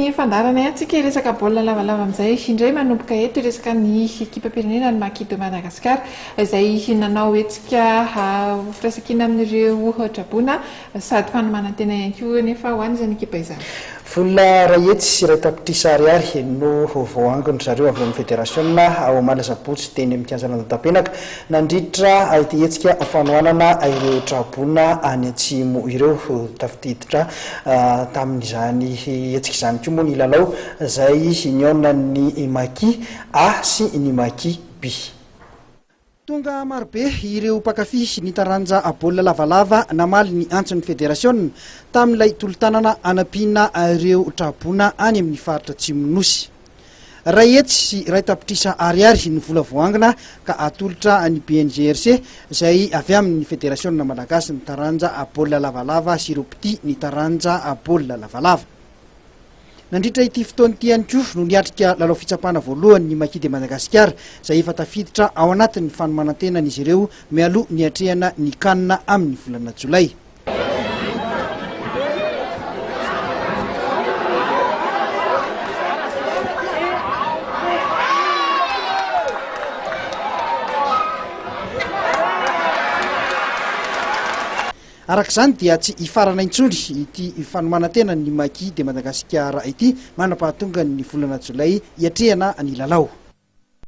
Ny fandaharanay antsika hiresaka baolina lavalava amin'izay indray manomboka eto hiresaka ny ekipam-pirenena ny Maki de Madagascar izay nanao hetsika ho firaisankina amin'ireo traboina sady fanomanan-tena ihany koa anefa ho an'izany ekipa izany. Vola iray hetsy sy iray tapitrisa ariary no voahangon-dry zareo avy amin'ny federasiona omaly asabotsy teny amin'ny kianjan'Andotanpenaka Nandritra ity hetsika fanohanana ireo tra-boina any Atsimo ireo, tafiditra tamin'izany hetsika izany koa moa ny lalao izay nihaonan'ny Maki A sy ny Maki B. Tonga marobe ireo mpankafy ny taranja baolina lavalava namaly ny antson'ny federasiona tamin'ilay tolo-tanana hanampiana ireo tra-boina any amin'ny faritra Atsimon'ny Nosy. Iray hetsy sy iray tapitrisa ariary ny vola voaangona ka atolotra ny BNGRC izay avy amin'ny Federasiona Malagasy ny taranja baolina lavalava sy ireo mpitia ny taranja baolina lavalava. Nandritra ity fotoana ity ihany koa no niatrika lalao fitsapana voalohany ny Maki de Madagasikara izay efa tafiditra ao anatin'ny fanomanan-tenan'izy ireo mialoha niatrehana ny Can amin'ny volana jolay. Araka izany dia tsy hifarana intsony ity fanomanantena ny Maki de Madagasikara ity manam-pahatongan'ny volana jolay hiatrehana ny lalao.